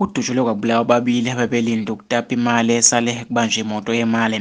Kudutshulwe kwabulawa ababili abebelinde ukutapa imali esale kubanje imoto yemali.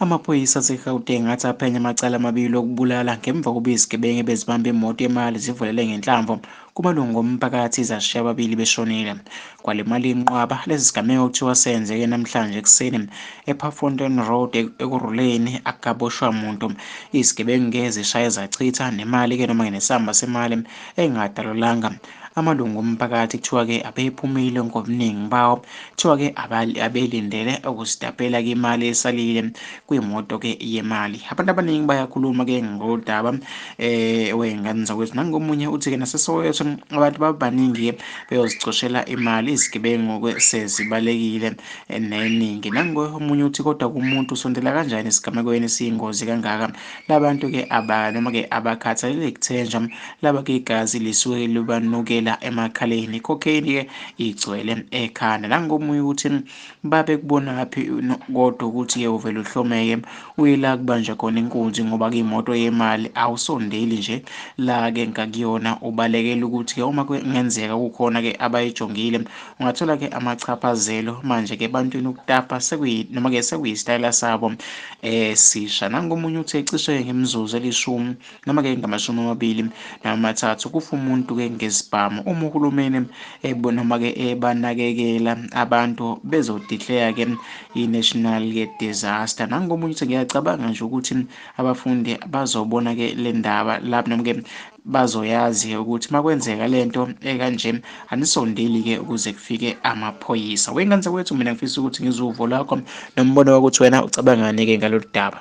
Amaphoyisa aseGauteng athi aphenya amacala amabili okubulala ngemva kokuba izigebengu ebezibamba imoto yemali zivulele ngenhlamvu Kumalungu omphakathi zashiya ababili beshonile. Kwale mali inqwaba lesi sigameko kuthiwa senzeke namhlanje ekuseni ePafontein Road e-, ekuruleni akaboshwa muntu. Izigebengu-ke zishaye zachitha nemali-ke noma-ke nesamba semali engadalulanga. Amalungu omphakathi kuthiwa-ke abephumile ngobuningi bawo kuthiwa-ke abelindele ukuzitapela-ke imali esalile kuyimoto ke yemali abantu abaningi bayakhuluma ke ngodaba eh wengane zakwethu nangomunye uthi ke nasesoweto abantu babaningi ke beyozicoshela imali izigebengu ke sezibalekile eh, neningi nangoye omunye uthi kodwa kumuntu sondela kanjani esigamekweni siyingozi kangaka labantu ke aba noma ke abakhathalele kuthenjwa laba ke igazi lisuke libanukela emakhaleni cocaine ke igcwele ekhanda nangomunye uthi Babe kubonaphi kodwa ukuthi ye uvele uhlomeke uye la kubanjwa khona inkunzi ngoba kuyimoto yemali awusondeli nje la ke ngakuyona ubalekela ukuthi ke uma kungenzeka kukhona ke abayijongile ungathola ke amachaphazelo manje ke bantwini ukutapa sekuyi noma ke sekuyisitayela sabo esisha eh, nangomunye uthe cishe ngemizuzu elishumi noma-ke ngamashumi amabili namathathu kufa umuntu-ke ngesibhamu uma uhulumeni noma-ke ebanakekela abantu bezodikleya-ke i-national disaster nangomunye ukuthi ngiyacabanga nje ukuthi abafundi bazobona-ke le ndaba lapho noma-ke bazoyazi ukuthi makwenzeka lento ekanje anisondeli ke ukuze kufike amaphoyisa wengane zakwethu mina ngifisa ukuthi ngizuvo lakho nombono wakuthi wena ucabangani ke ngalolu daba